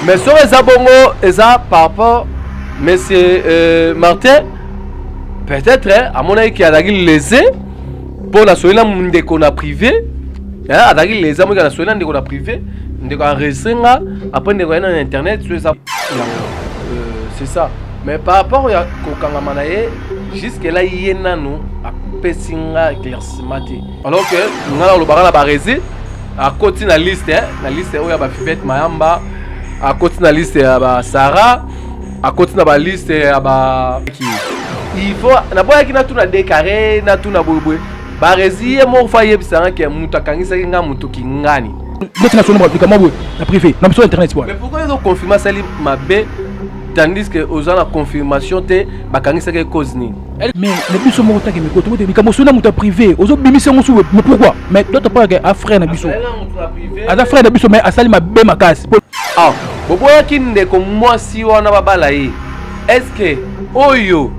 Mais soki eza bongo eza par rapport monsieur euh, Martin peut-être hein, amonaki ke azalaki lese mpo nasoyi na ndeko na privé hein, azalaki lese amonaki nasoyi na ndeko na privé ndeko enregistre nga après ndeko aye na internet so eza euh, c'est ça mais par rapport ya kokangama na ye jusque là ye nanu apesi nga éclaircissement te alors que nga nalobaka na barezi akoti na liste eh, na liste oyo ya bafivete mayamba akoti na liste ya basara akoti na baliste ya ba il faut naboyaki natuna dekare natuna boyeboye barezi ye moko fa ayebisa nga ke moto akangisaki nga moto kingani ndeti nasono likambo boye na privé na biso internet bwana mais pourquoi ezo confirme asali mabe tandis que oza na confirmation te bakangisaki cause nini Mais na biso moko take miko tokote likambo sona moto ya privé ozobimisa yango suwe mais pourquoi mais d'autre part a frère na biso aza frère na biso mais asali mabe makasi ah, boboyaki ndeko mwasi wana babala ye estce oyo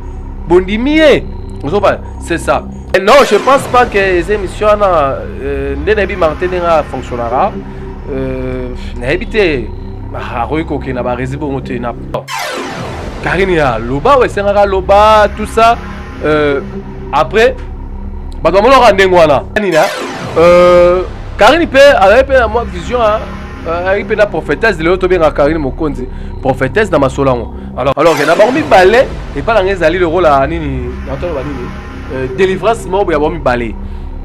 bondimi ye ozoba c'est ça non je pense pas que eza émission wana euh, nde nayebi martin ndenge afonctionnaka euh, nayebi te akoki kokenda baresi bongo te na Karine ya loba oyo esengaka loba tout ça euh, après bato bamonaka ndenge wana nini euh, Karine mpe azali mpe na mwa vision euh, ayaki mpe na prophétesse lelo tobengaka Karine Mokonzi prophétesse na masolo yango alors alors na bango mibale epai na ngai ezali lokola nini natoloba nini euh, délivrance moko ya bango mibale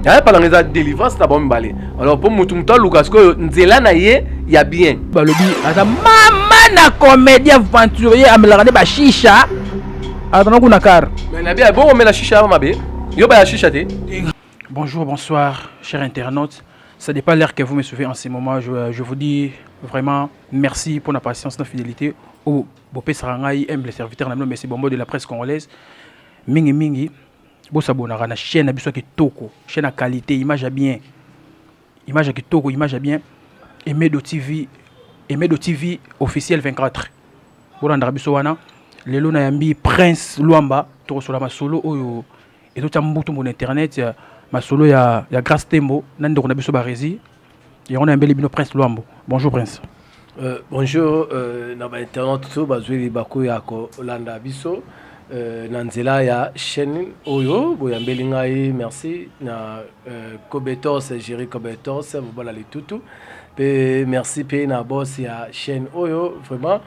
ya epai na ngai eza délivrance na bango mibale alors mpo motu motu aluka sikoyo nzela na ye ya bien balobi aza mama na comédien aventurier amelaka nde bashisha azana kuna kar mais na bia bongo omela shisha mabe yo baya shisha te bonjour bonsoir cher internaute ça dépend l'heure que vous me suivez en ce moment je, je vous dis vraiment merci pour la patience la fidélité au oh, bopesaka ngai aime le serviteur na bino mesi bombo de la presse congolaise mingi mingi bosabonaka na chaîne na biso ya kitoko chaîne ya qualité image ya bien image ya kitoko image ya bien emedo tv emedo tv officiel 24 bolandaka biso wana lelo na yambi prince luamba tokosola masolo oyo ezotya mbutu mona internet masolo ya, ya grace tembo na ndeko na biso barezi yango nayambeli bino prince luambo bonjour prince euh, bonjour euh, na bainternaute to bazweli bakoya kolanda biso euh, na nzela ya chaîne oyo boyambeli ngai merci na euh, cobetos géri cobetos mobala litutu mpe merci mpe na bos ya chaîne oyo vraiment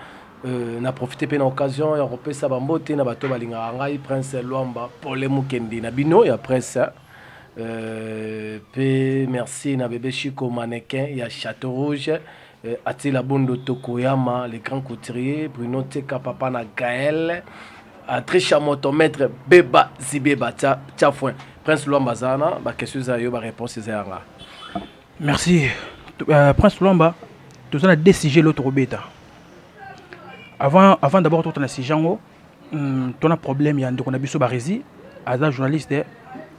Euh, na profite mpe na occasion ya kopesa bambote na bato balingaka ngai prince lwamba pole mokendi na bino ya prince Euh, pe merci na bebe Chico mannequin ya Château Rouge euh, Atila Bondo Tokoyama le grand couturier Bruno Teka papa na Gaël Atrisha Moto maître Beba Zibeba tsa tsa foin Prince Luamba Zana ba question za yo ba réponse za yanga Merci euh, Prince Luamba tozana deux sujets l'autre obeta avant avant d'abord totana sujet yango oh. Hum, to na problème ya ndeko na biso Barezi, aza journaliste,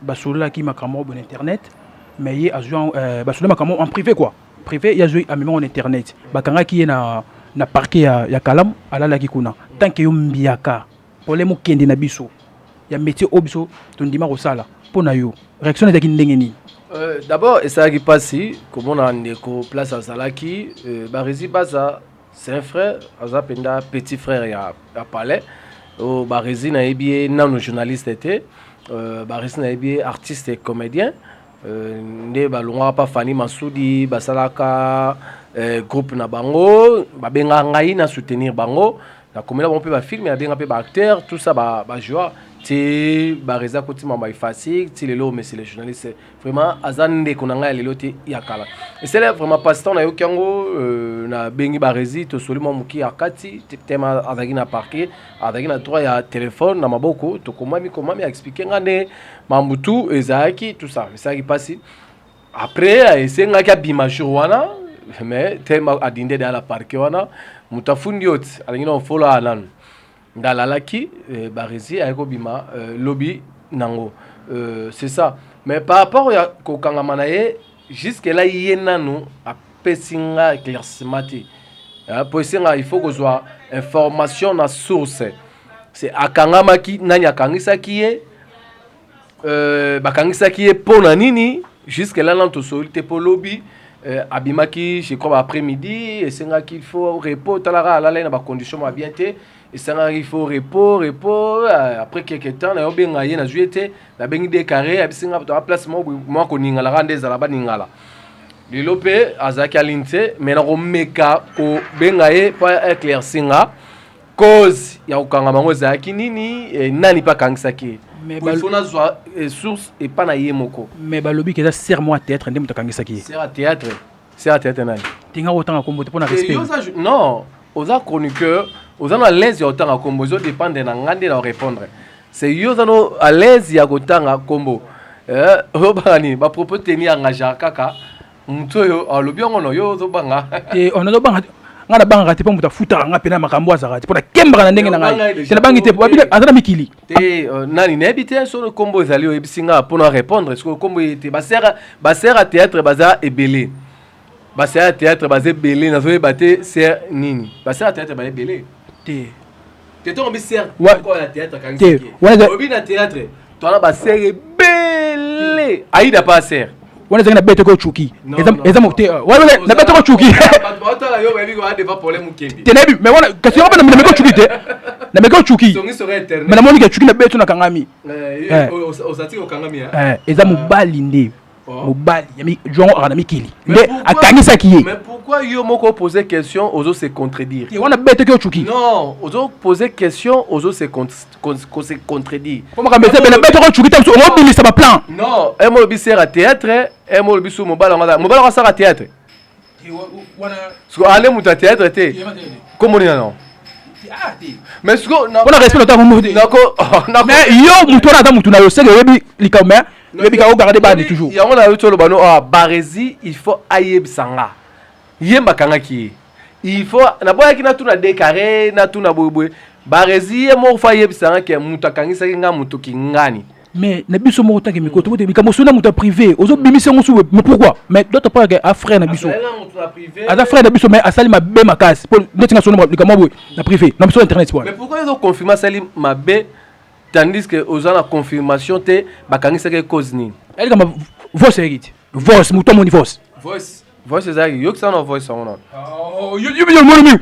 basololaki makambo na internet, mais ye azwi yango euh, basololi makambo en privé quoi, privé ye azwi amemi yango na internet, bakangaki ye na na parquet ya, ya Kalamu, alalaki kuna tant que yo mbiaka problème okende na biso ya métier oyo biso tondima kosala mpo na yo réaction ezalaki ndenge nini? Euh, D'abord esalaki mpasi komona ndeko place azalaki euh, Barezi Baza C'est un frère, aza penda petit frère ya, ya palais. Oh, Barezi nayebi ye nano journaliste te. Euh, Barezi nayebi ye artiste et comédien. Euh, nde balongaka pa Fani Masudi basalaka euh, groupe na bango babengaka ngai na soutenir bango nakomela bango mpe bafilme nabenga mpe baacteur tout ça bajoie ba ti barezi akotimama efasik ti lelo omesi le journaliste vraiment aza ndeko na ngai ya lelo te ya kala esele vraiment passe-temps nayoki yango euh, nabengi baresi tosoli mwa moki ya kati tema azalaki na parke azalaki na droit ya telefone na maboko tokomami komami aexplike ngai nde mambo tu ezalaki tout ça esalaki mpasi après esengaki abima jour wana mais tema adinde deya na parke wana moto afundi yo ti alingi na ofolo ananu Ngalalaki barezi aye kobima lobi nango c'est ça mais par rapport ya kokangama na ye jusque là ye nanu apesi nga éclaircissement te mpo esenga il faut kozwa information na source se akangamaki nani akangisaki ye Euh, bakangisaki ye mpo na nini jusque là nano tosoli te mpo lobi euh, abimaki je crois ba après midi esengaki il faut repos talaka alalai na bacondition ma bien te esengaki il faut repos repos euh, après quelque temps nayo benga ye nazwi ye te nabengi de carré abisinga toa place moko mwa koningala kaka nde ezala baningala lelo mpe azalaki alini te mai nakomeka kobenga ye mpo eclaircinga cause ya kokanga bango ezalaki nini eh, nani mpe akangisaki ye Mais Boye bal- fo nazwa eh, source epa na ye moko mais balobi ke eza ser mwa théâtre nde moto akangisaki ye sera théâtre sera théâtre nani tinga kotanga kombo te mpo na Eh, yo respect oza ju- non oza chroniqueur oza no à l'aise ya kotanga kombo ezo dépendre na nga nde na répondre c'est yo oza no à l'aise ya kotanga kombo Eh, olobaka nini bapropos teni engagea kaka moto oyo alobi yango na yo ozobanga te on azobanga te ngai nabangaka te mpo moto afutaka ngai mpe na makambo azalaka te mpo nakembaka na ndenge na ngai te nabangi te babi aza na mikili te euh, nani nayebi te solo nkombo ezali oyebisi ngai mpo na répondre sikoyo nkombo eye te basera basera théâtre baza ebele basera théâtre baza ebele nazoyeba te ser nini basera théâtre baza ebele te Te to mi sert ko ya théâtre kan se ki. Te. Obi na théâtre. To na ba sert belle. Aida pas sert. wana ezalaki na bete ko cuki eza mote na bete ko cuki te nayebi mais wana kasi yango mpe na meko cuki te na meko cuki mais namoni ke cuki na bete nakangami eza mobali nde mobali ya juango aka na mikili nde akangisaki ye mais pourquoi yo moko pose question ozo se contredire te wana betoki ocuki non ozo pose question ozo se se contredire po makambo eza bena betoki ocuki te mosusu obimisa baplan non emo olobi sera théâtre emo olobi su mobali yango mobali yango asaka théâtre siko ale moto ya théâtre te kombo nini yango mais siko mpona respect na ntango mbote mais yo moto wana ata motu na yo seke oyebi likambo mais oyebi ka ogarde bani toujours yango na yo ti oloba no ah, barezi il faut ayebisa nga ye mbakangaki ye il faut naboyaki natuna dekare natuna boyeboye barezi ye moko fo ayebisa nga ke moto akangisaki nga moto kingani mais na biso moko tanke mikolo tokote mm. likambo sona moto ya privé ozobimisa yango suwe mais pourquoi mais doto parke a frère na biso aza frère na biso mais asali mabe makasi mpo ndeti nga sona likambo boye na privé na biso internet wana mais pourquoi ezo confirme asali mabe tandis que oza na confirmation te bakangisaki cause nini eh, likambo voice eyaki te voice moto amoni voice voice voice eza yaki yokisa na voice yango nano oh, yo omoni mingi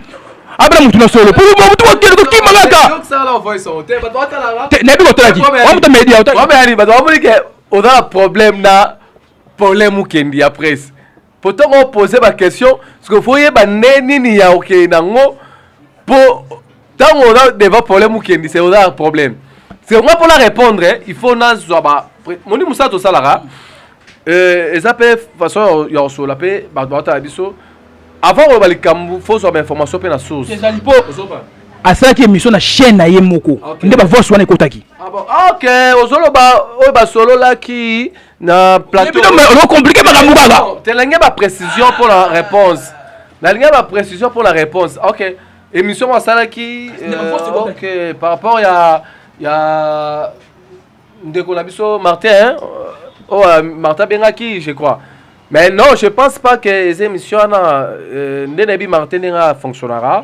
abela motu na solo motu okende kokima kaka nayebi kotalaki wamuta media oza na problème na problème okendi ya presse po ntango opose baquestion sikoyo foyeba nde nini ya okei nango po ntango oza deva problème okendi se oza problème se nga mpo na répondre il faut nazwa ba moni mosala tosalaka eh, eza mpe façon ya kosolola mpe bato baotala biso avant koloba likambo fo ozwa bainformation mpe na source ezali mpo asalaki émission na chaîne na ye moko nde bavoice wana ekotaki ah ok ozoloba oyo basololaki na plateaucomplike makambo kaka telenge baprécision mpo na réponse nalingi baprécision mpo na réponse ok Émission mwa asalaki euh, ok par rapport ya ya ndeko na biso Martin hein? oh euh, Martin abengaki je crois mais non je pense pas que eza émission wana euh, nde nayebi Martin ndenge afonctionnaka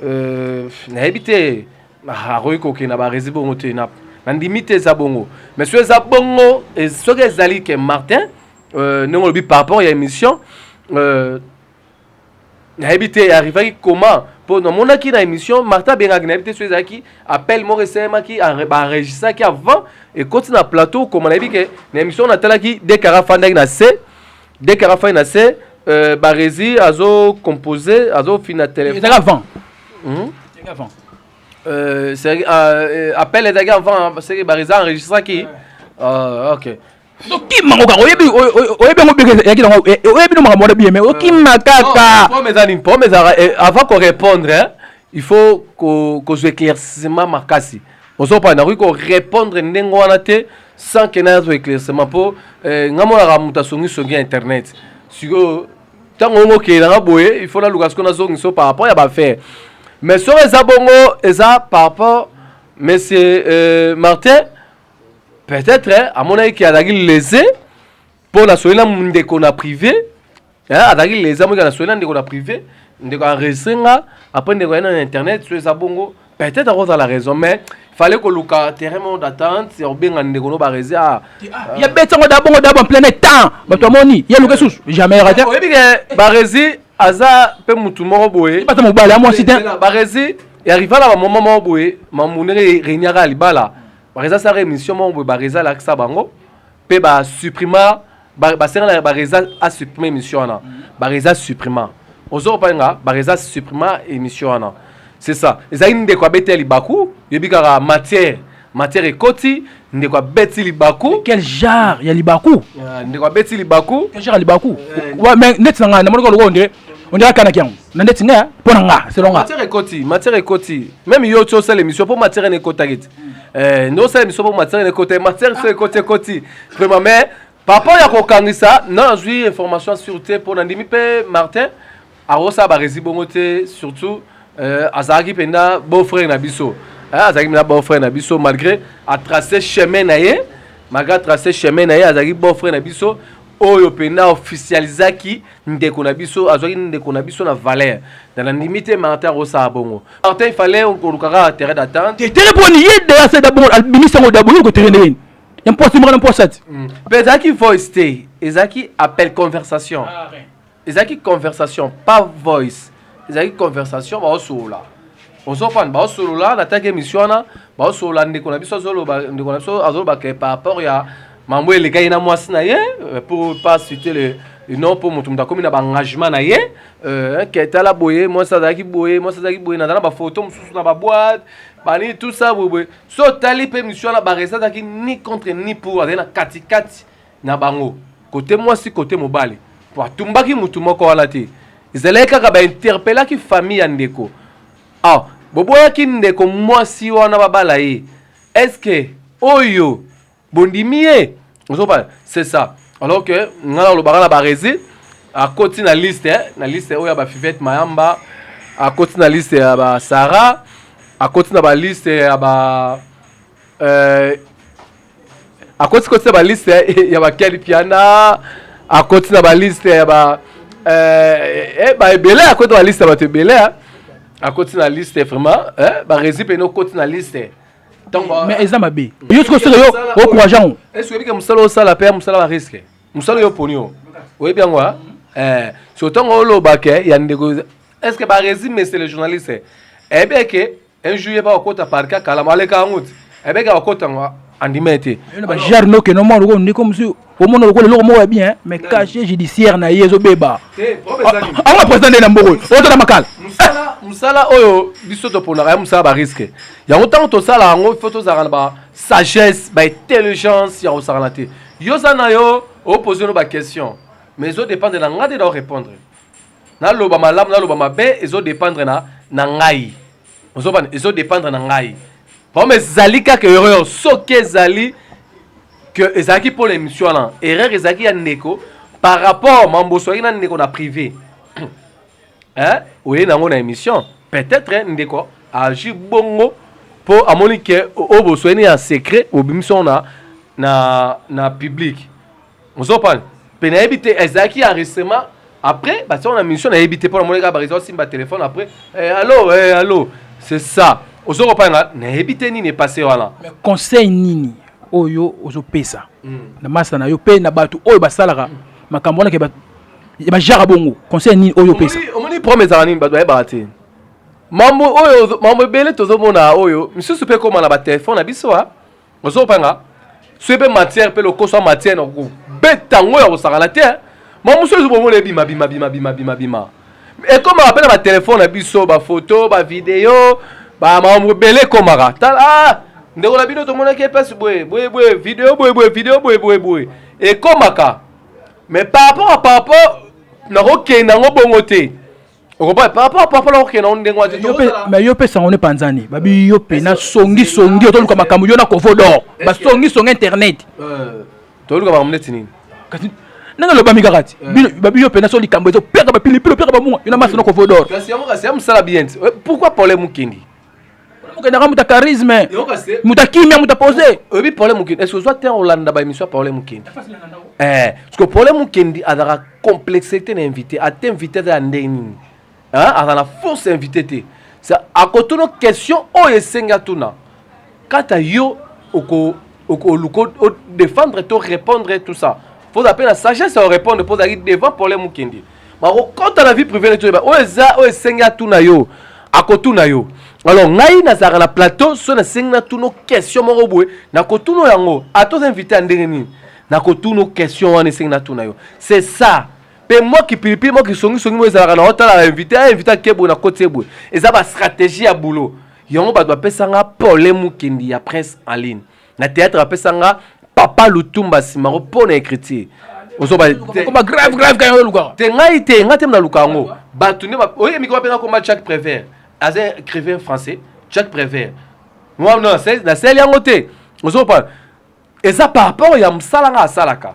euh, nayebi te ah, akoki kokende na baresi bongo te na nandimi te eza bongo mais soki eza bongo soki ezali ke Martin euh, ndenge olobi par rapport ya émission euh, nayebi te arrivaki comment mpo namonaki na émission martin abengaki nayebi te so ezalaki appel moko esalemaki baenregistraki avant ekoti na plateau okoma nayebi ke na émission natalaki dekara afandaki na se dekara afandaki na se euh, barezi azo compose azofina téléphone avant hmm? avant euh, euh, appel ezalaki avant parce que barezi enregistraki ah, ok okima kaka oyebi oyebi yango beke yaki nango eh, eh, oyebi no makambo wana biye me okima ah. kaka pome eza nini pome ezalaka eh, avant korépondre il faut kozwa éclaircissement makasi ozopa nakoki korépondre ndenge wana te sans ke nazwa éclaircissement mpo nga monaka moto asongisongi ya internet sikoyo ntango ongo okei nanga boye il faut naluka sikoyo nazongiso par rapport ya bafaire mais soki eza bongo eza par rapport monsieur euh, martin peut-être amonaki ke azalaki lese mpo nasoli na ndeko na privé azalaki lese amonaki nasoli na ndeko na privé ndeko enregistre nga après ndeko aye na internet so eza bongo peut-être akozala la raison mais fallait koluka terrain moko d'attente ya kobenga ndeko no barezi a ya beti yango da bongo dabo en plein temps bato amoni ye luka susu jamais rate oyebi ke barezi aza mpe motu moko boye bata mobali ya mwasi te barezi ya rivala bamoment moko boye mambu ndenge reuniaka ya libala Bareza asalaka emission moko boye Bareza alakisa bango mpe ba supprima basengana Bareza a supprima emission wana Bareza supprima ozo kopani nga Bareza supprima emission wana c'est ça ezalaki ndeko abeti ya libaku yebi kaka matière matière ekoti ndeko abeti libaku quel genre ya libaku ndeko abeti libaku quel genre ya libaku neti na ngai namonaka lokola ondire on dirait kanaki yango na ndeti nga mpo na nga selon nga matière ekoti matière ekoti même yo ti osala émission mpo matière ene ekotaki ti eh, nde osala émission mpo matière ene ekotaki matière so ekoti ekoti vraiment mais papa ya kokangisa na nazwi information sur te mpo nandimi mpe martin akosala baresi bongo te surtout euh, azalaki mpenza beau frère na biso eh, azalaki mpenza beau frère na biso malgré atrace chemin na ye malgré atrace chemin na ye azalaki beau frère na biso oyo mpenza officialisaki ndeko na biso azwaki ndeko na biso na valeur na nandimi te martin akosala bongo martin ifale okoluka kaka terrain d'attente tere mponi ye dease dabongo abimisa yango dabongo yoko tere ndenge ya mposi mokana mposa ti mpe mm. ezalaki voice te ezalaki appel conversation ah, ezalaki conversation pas voice ezalaki conversation baosolola ozofana baosolola nataki émission wana baosolola ndeko na biso azoloba ndeko na biso azoloba ke par rapport ya mambo elekaki na mwasi na ye euh, pour pas citer le non mpo moto moto akomi na baengagement na ye euh, ke tala boye mwasi azalaki boye mwasi azalaki boye naza na bafoto mosusu na baboite banini tout ça boyeboye so otali mpe misio wana baresa azalaki ni contre ni pour azalaki na katikati na bango kote mwasi kote mobali po atumbaki mutu moko wana te ezalaki kaka ba interpelaki famille ya ndeko ah boboyaki ndeko mwasi wana babala ye est-ce que oyo bondimi ye ozobala c'est ça alors que ngai nalobaka na barezi akoti na liste eh, na liste oyo ya bafivete mayamba akoti na liste ya basara akoti na baliste ya ba Euh, akoti koti na ba liste ya ba Ken Mpiana, akoti na ba liste ya ba euh, eh, ba ebele, akoti na ba liste ya bato ebele, akoti na liste vraiment, eh, ba resi pene okoti na liste mais eza mabe yo sikoyo soki yo okourage yango esi oyebi ke mosala osala mpe ya mosala ba risque mosala yo oponi yo oyebi yango a eh, so ntango olobake ya ndeko est ce que barésime mese le journaliste eyebi eke un jour yeba okota parka kala maleka yango ti ebeke akota ngo andima ye te bajar noke no mwana lokola ndeko mosusu omona lokola eloko moko ya bien mais cachet judiciaire na ye ezobeba ango na président nde na mboko otala makala mosala oyo biso toponaka ya mosala bariske yango ntango tosala yango ifo tozalaka na basagesse baintelligence ya kosakana te yo oza na yo opose no baquestion mais ezodépendre na ngai nde na orépondre naloba malamu naloba mabe ezo dependre na na ngai ozobana ezo dependre na ngai comme ezali kaka erreur soki ezali que ezalaki mpo na émission wana erreur ezalaki ya ndeko par rapport mamboso ayaki na ndeko na privé eh, oye nango na émission peut-être ndeko agi bongo mpo amoni ke oyo bosoyani ya secret obimisi yango na, na, na publique ozopana mpe nayebi te ezalaki ya recement après batia na mission nayebi te mpo namoni kaka barezo asimba telefone après eh, allo eh, allo c'est ça ozokopanga nayebi te nini epase wana conseil nini oyo ozopesa mm. na masa na yo mpe na bato oyo basalaka mm. makambo wana ke bajaka bongo conseil nini oyo opesa omoni problème ezalaka nini bato bayebaka te mambo oyo mambo ebele tozomona oyo misusu mpe ekóma na batelefone na biso a ah. ozo kopanga soki mpe matière mpe lokoso ya matière nakobeta yango ya kosakana te mamusu ezo bomona ebima bima bima bima bima bima ekomaka mpe na batelefone na biso bafoto bavideo bamakambo ebele ekomaka tala ah, ndeko na bino tomonaki epasi boye boye boye video boye boye video boye boye boye ekomaka mais par rapport par rapport nakokenda yango bongo te okoboya par rapport par rapport okokende yango ndenge wana te mais yo mpe sango ne panzani babi yo mpe na songi songi otoluka makambo yo na kovo dor basongi songi internet euh, toluka makambo neti nini kasi ndenge elobami kaka ti euh. babi yo mpe na so likambo ezopeka bapilipili opeka bamunga yo na masi na kovo dor kasi yango kasi ya mosala bien ti euh, pourquoi problème okendi mokendaka moto ya charisme moto ya kimia moto ya pose oyebi pole mokendi est ce ozwa terre olanda ba émission ya pole mokendi eh, parce que pole mokendi azalaka complexe te na invité ata invité aza ya ndenge nini aza na force invité te akotono question oyo esengi atuna Quant à yo, oko, oko, oko, oko défendre, to répondre, tout ça. Faut appeler la sagesse à répondre, faut aller devant problème ou kindi. Mais au compte à la vie privée, tu es, oh, eza, oh, senga, tout na yo. akotuna yo alors ngai nazalaka na plateau so nasengi natuna question moko boye nakotuna yango ata oza invité ya ndenge nini nakotuna question wana esengi natuna yo c'est ça mpe mwa kipilipili mwa kisongisongi moyo ezalaka na otala invité a invité akeboye na koti eboye eza bastratégie ya boulot yango bato bapesa nga pole mukendi ya prince en ligne na théâtre bapesa nga papa lutumba simango mpo na écriture ozoba komba grave grave kaya olukaka te ngai te ngai te naluka yango bato nde oye mikoma mpenza komba jacques prévert aza écrivain français jacques prévert nasali yango te ozokopa eza par rapport ya mosala ngai asalaka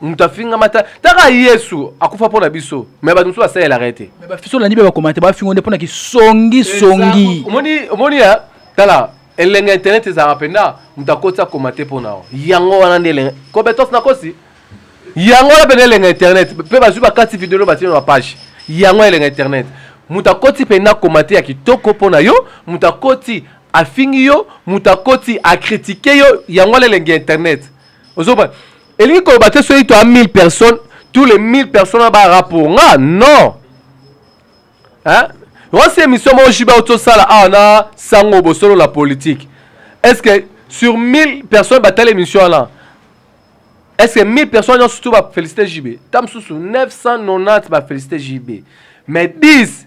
moto afingama ta taka yesu akufa mpo na biso me bato mosusu basalelaka ye te me bafiso olandi mpe bakoma te bafingo nde mpo na kisongisongi omoni ya tala elenga internet ezalaka mpenza moto akoti akoma te mpo na yo yango wana nde elenga kobetos nakosi yango wana mpenza elenga internet mpe bazwi bakati video no batina na bapage yango elenga internet moto akoti mpenza akoma te ya kitoko mpo na yo moto akoti afingi yo moto akoti akritike yo yango wana elenga internet ozoba elingi koloba te soki toya 1000 personnes tous les 1000 personnes bara pour nga non hein osi émission moko jiba otosala awa na sango bosolo la politique est ce que sur 1000 personnes batala émission wana est ce que 1000 personnes nyonso tu bafélicité jb ta mosusu 990 bafélicité jb mais 10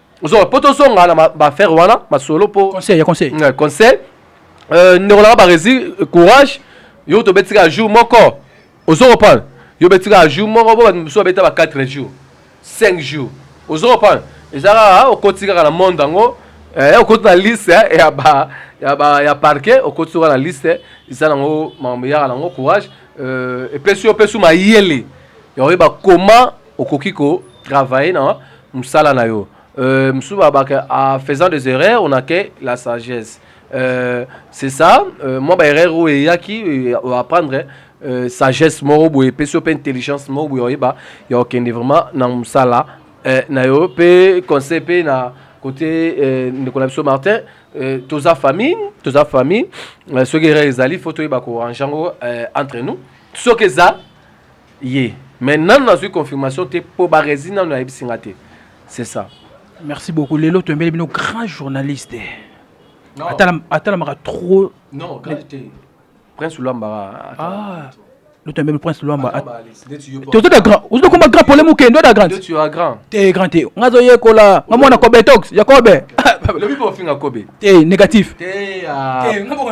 ozonga mpo tozonga na baaffaire wana masolo mpo conseil ya conseil mm, conseil euh, ndeko nanga baresi courage yo tobeti kaka jour moko ozo comprendre yo obeti kaka jour moko bo bato mosusu babeta ba 4 jours 5 jours ozo comprendre eza kaka okoti kaka na monde yango eh, okoti na liste eh, ya ba ya ba ya parquet okoti kaka na liste eza nango makambo eyaka nango courage euh, epesi yo opesi mayele ya koyeba comment okoki ko travailler na musala na yo euh, mosusu babaka en faisant des erreurs on a que la sagesse euh, c'est ça euh, mwa baerreur oyo eyaki euh, apprendre euh, sagesse moko boye epesi yo mpe intelligence moko boye oyeba ya okende vraiment na mosala euh, na yo mpe conseil mpe na côté euh, ndeko na biso martin euh, toza famille toza famille euh, soki erreur ezali faut toyeba korange yango euh, entre nous soki eza ye mais nanu nazwi confirmation te mpo barezi nanu ayebisi nga te c'est ça merci beaucoup lelo toyembeli bino grand journaliste atalamaka trop non grave te prince olambaka ah. lotembe prince luamba tozota grand ozo koma grand pole moke ndo da grand te grand te nga zo yekola nga mwana kobe tox ya kobe lobi po finga kobe te négatif te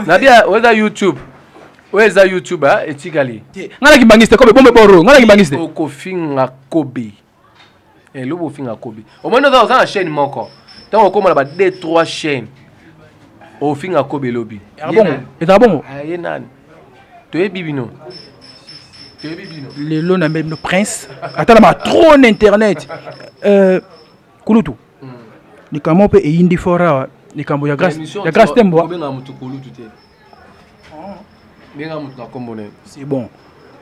na bia oza youtube oyo eza youtube ah, etikali te nga na kimbangiste kobe bombe boro nga na kimbangiste okofinga kobe elo eh, bofinga kobe omoni oza oza na chaîne moko ntango okoma na ba d 3 chaîne ofinga kobe elobi ezala bongo ah, ye nani toyebi bino lelo na mbembe prince ata na matro na internet euh, kulutu hmm. likambo mpe eyindi fort awa likambo ya grace tembo benga moto na nkombo na ye c'est bon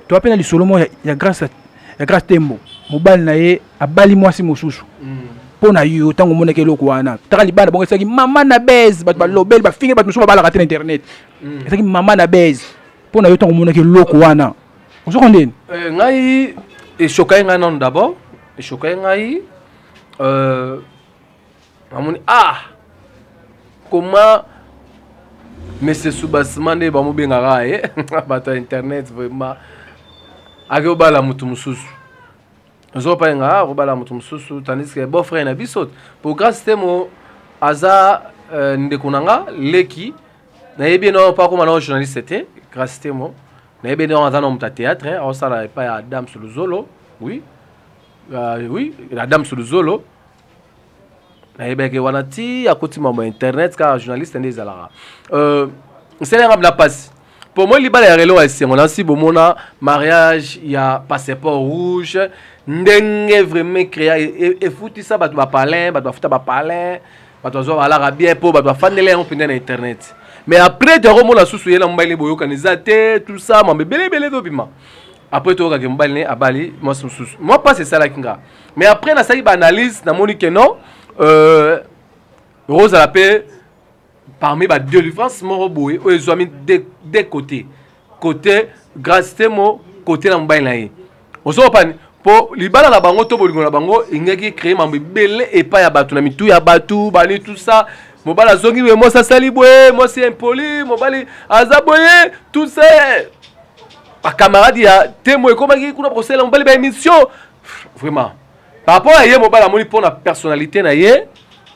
to apena lisolo moko ya grâce ya grâce tembo mobali na ye abali mwasi mosusu mpo hmm. na yo ntango omonaki eloko wana taka libanda bongo ezalaki mama na base bato balobeli bafingi bato mosusu babalaka te na internet hmm. ezalaki mama na base mpo na yo ntango omonaki eloko wana ozoko ndeni eh, ngai eshokai ngai nano d'abord eshokai ngai euh, amoni ah comment monsieur Soubassima nde bamobengaka ye bato ya internet vraiment ake obala moto mosusu ozopa nga akobala moto mosusu tandis que beau frère na biso po grace temo aza euh, ndeko na nga leki nayebi ye nao mpo akoma nao journaliste te grace temo nayebi ye nao aza na moto ya théâtre aosala epai ya dame soluzolo oui uh, oui la dame soluzolo nayebaki wana ti akoti mambo ya internet kaka journaliste nde ezalaka euh, nsele yanga bila mpasi mpo moi libala ya relo ya esengo nasi bomona mariage ya passeport rouge ndenge vraiment créa e, e, efutisa bato bapalin bato bafuta bapalin bato bazwa balaka bien mpo bato bafandeli yango mpenza na internet mais après toyakomona susu ye na mobali boyokani eza te tout ça mambo ebele ebele ezobima après toyoka ke mobali ne abali mwasi mosusu mwa mpasi esalaki nga mais après nasalaki baanalyse namoni ke non euh, ekozala mpe parmi ba délivrance moko boye oyo ezwami de, de côté côté grace temo côté na mobali na ye ozokopani mpo libala na bango to bolingo na bango engaki ecree mambo ebele epai ya bato na mitu ya bato bani tout ça mobali azongi boye mwasi asali boye mwasi impoli mobali aza boye tout ça bakamarade ya temo ekomaki kuna bakosalela mobali baémission vraiment par rapport ya ye mobali amoni mpo na personnalité na ye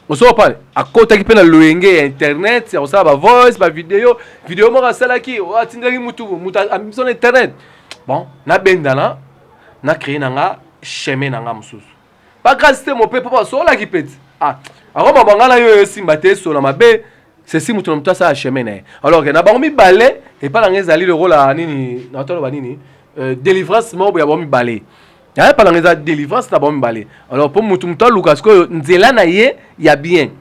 osoba pale akotaki mpe na loyenge ya internet ya kosala bavoice bavideo video moko asalaki oh, atindaki mutu mutu amibisa na internet bon nabendana na créer na nga chemin na nga mosusu Ba grâce te mope papa sola ki peti. Ah, ako mabanga na yo esimba te sola mabe. Ceci moto na moto asala chemin na ye. Alors que na bango mibale epa na ngai ezali lokola nini na tolo ba nini euh, délivrance moko ya bango mibale. Ya epa na ngai eza délivrance na bango mibale. Alors po moto moto aluka sikoyo nzela na ye ya bien.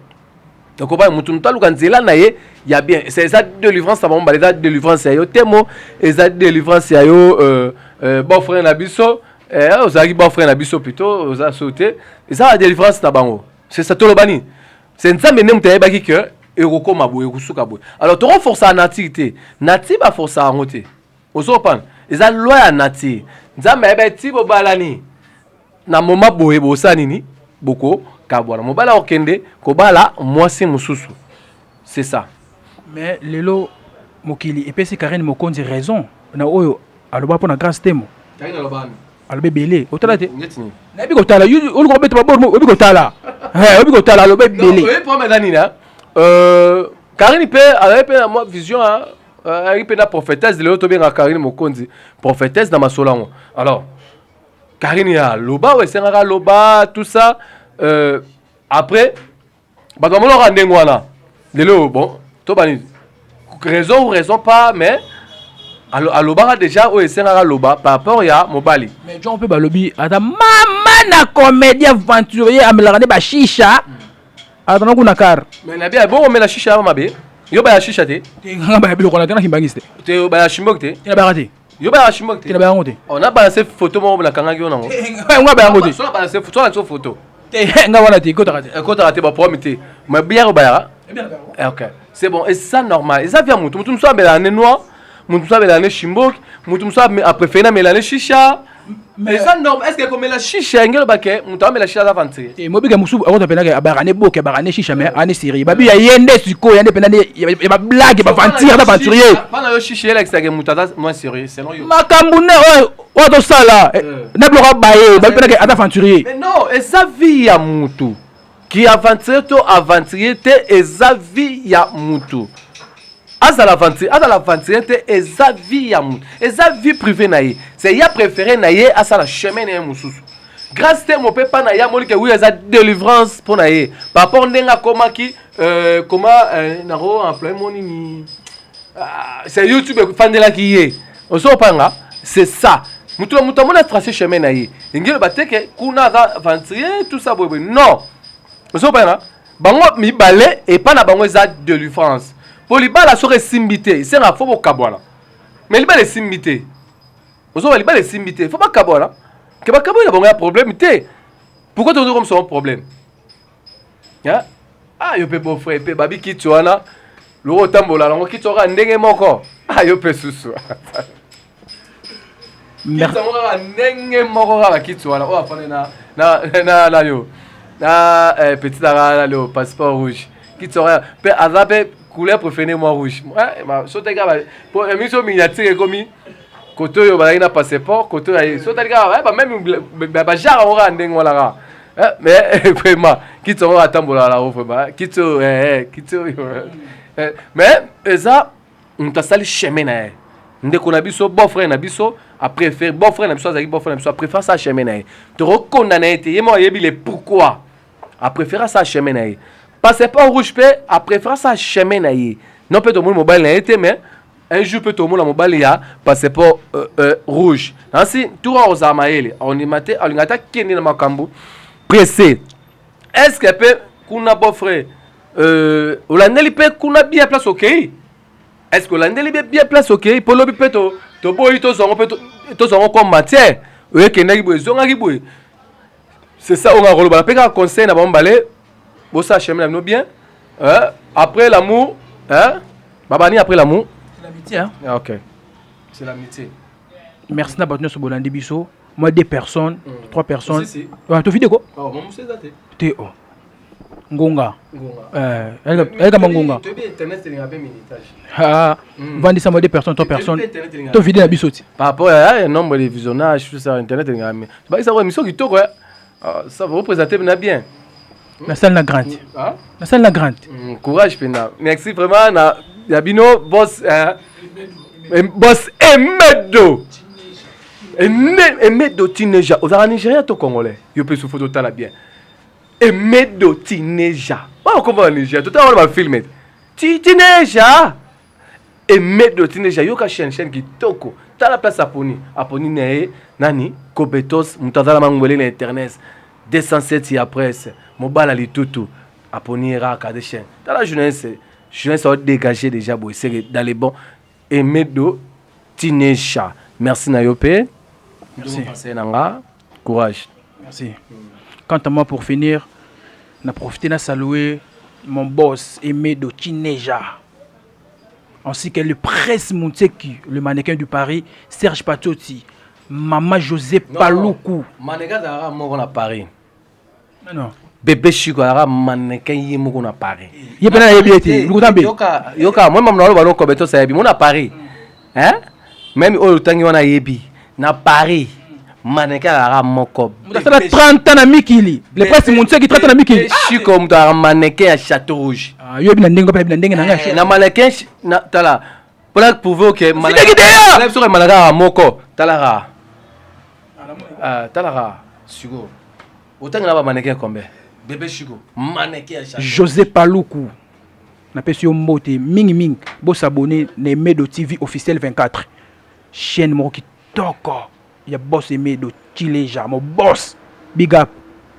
okoba motu motu aluka nzela na ye ya bien eza délivrance na bango mbala eza délivrance ya yo temo eza délivrance ya yo euh, euh, bon frère na biso eh, ozalaki bon frère na biso plutôt oza so te eza ba délivrance na bango c'est ça toloba nini c'est nzambe nde moto ayebaki que ekokoma boye ekosuka boye alors tokoforsa nati te nati baforsa yango te ozopana eza loi ya nature nzambe ayeba ti bobalani na moma boye bosa nini bokokabwana mobali akokende kobala mwasi mosusu c'est ça mais lelo mokili epesi karine mokonzi raison na oyo aloba mpo na grace temo aloba ebele otala te nayebi kotala oluka obeta babor oyebi kotala oyebi kotala aloba ebele karine mpe azali mpe na mwa vision ayaki mpe na prophétesse lelo tobenga karine mokonzi prophétesse na masolo yango alors karine ya loba oyo esengaka loba tout ça euh, après bato bamonaka ndenge wana lelo bon tobani raison ou raison pas mais alobaka déjà oyo esengaka loba par rapport ya mobali mais jon mpe balobi ata mama na comédien aventurier amelaka nde bashisha mm. Ah, tana kuna car. Mais na bia bongo mela shisha mabe. Yo ba ya shisha te. Te nga ba ya biloko na tana kimbangiste. Te ba ya shimbok te. Te na ba te. Yo ba ya shimbok te. Te na ba yango te. On a balancé photo moko na kangaki yo nango. Nga ba yango te. So na balancé photo, so photo. Te nga wana te, kota te. Kota te ba problème te. Mais bia ko ba ya. Eh bien, eh, ok. C'est bon, et ça normal. Et ça vient mutu mutu mutu ambela ne noir. mutu mosusu amela ne shimboki mutu mosusu aprefere na mela ne shisha mais eza normal est-ce que komela shisha yango eloba ke moto amela shisha aza aventurier e mobika mosusu akota mpenza ke abaka ne boke abaka ne shisha mais ane serie babi ya ye nde sikoyo yande mpenza ya bablage baventire aza aventurier mpona yo shisha elakisake moto aza moins sérieux selon yo makambo ne oyo oyo tozosala na biloko baye babi mpenza ke aza aventurier non eza vie ya motu ki aventurier to aventurier te eza vie ya mutu azala aventurier azala aventurier te eza vie ya mutu eza vie privée na ye c'est ya préféré na ye asala chemin na ye mosusu grâce te mope mpa na ye amoni ke wi eza délivrance mpo na ye par rapport ndenge akomaki euh, koma euh, nako employe mo nini Ah, c'est youtube efandelaki ye ozo opanga c'est ça moto na moto amoni atrace chemin na ye elingi eloba te ke kuna aza aventurier tout ça boyeboye non ozo opanga bango mibale epai na bango eza delivrance mpo libala soki esimbi te esenga fo bokabwana mais libala esimbi te ozoba libala esimbi te fo bakabwana ke bakabwani na bango ya problème te pourquoi tokoki komisa bango problème hein ah yo pe beau frère pe babi kitu wana loko otambola nango kitu kaka ndenge moko ah yo pe susu kitango kaka ndenge moko kaka kitu wana oyo afandi na na na na yo na eh, petit aka na leo passeport rouge kitu wana pe aza pe couleur préférée moi rouge eh, soteka po emission miniature ekomi kote oyo bazalaki na passeport kote oyo so otali kaka ba meme bajara yango kaka ndenge wana kaka eh, mais eh, vraiment kiti yango atambolaka nango vraiment kiti oyo eh, kiti oyo mais eza moto asali chemin na ye ndeko na biso beau frère na biso apréfère beau frère na biso azalaki beau frère na biso apréfère sa chemin na ye tokokonda na ye te ye moko ayebi le pourquoi a prefera sa chemin na ye passeport rouge mpe a prefera sa chemin na ye non mpe tomoni mobali na ye te mais un jour mpe tomona mobali ya passeport euh, euh, rouge nansi tura ozala mayele ondima te alinga ata kende na makambo presse est ce que mpe kuna beau frère euh, olandeli mpe kuna bien place okei okay? est ce que olandeli mpe bien place okei okay? mpo lobi mpe toboyi to tozwango mpe tozwango comme matière oyo ekendaki boye ezongaki boye c'est ça oyo nga koloba nape kaka conseil na bango mibale bosala chemin na bino bien hein? après l'amour hein? babani après l'amour c'est l'amitié hein? ah, ok c'est l'amitié merci na bato nyonso bolandi biso moi deux personnes mm. trois personnes si, si. Ah, tofide ko oh, te o oh. ngonga ayeka mangonga vandisa mwa de personne to personne to vide na biso ti par rapport ya nombre de visionnage tout ça internet elingaka mi bakisa ko émission kitoko ça va représenter na bien nasali na grande nasali na grande courage mpenza merci vraiment na ya bino bos bos emedo emedo tineja ozalaka nigérien to congolais yo mpe sufoto otala bien Emedo Tineja. Wao kombo na Nigeria. Tota wana ba filme. Ti Tineja. Emedo Tineja yoka chaîne chaîne kitoko. Tala place aponi. Aponi na ye nani? Kobetos mutazala mangwele na internet. 207 ya presse. Mobala litutu. Aponi ye kaka de chaîne. Tala journaliste. Journaliste au dégager déjà boy. C'est dans les bons Emedo Tineja merci na yo pe. Merci. Conseil na nga courage. Merci. Quant à moi pour finir na profiter na saluer mon boss Emedo Tineja ainsi que le Prince Mutseki le mannequin du Paris Serge Patoti Mama José Paluku. Mannequin azalaka moko na Paris. bebe shiko ayaka mannequin ye moko na paris ye mpe nayebi ye te lokuta mpe yoka moi mamna oloba lokobe tosayebi mo na paris meme oyo otangi wana ayebi na paris mannequin ayaka moko moto asala 30 ans na mikili le presse montisaki 30 ans na mikili shiko moto ayaka mannequin ya chateau rouge ah, yo yebi na ndenge mpe ayebi na ndenge na ngai na mannequin tala pona prouve oke biso komana kaka moko talaka ah, talaka siko otangi na bamaneke ya kombe bebe shiko maneke ya josé paluku napesi yo mbote mingimingi bosabone na emedo tv officiel 24 chaîne moko kitoko ya bos emedo chileja mo bos big up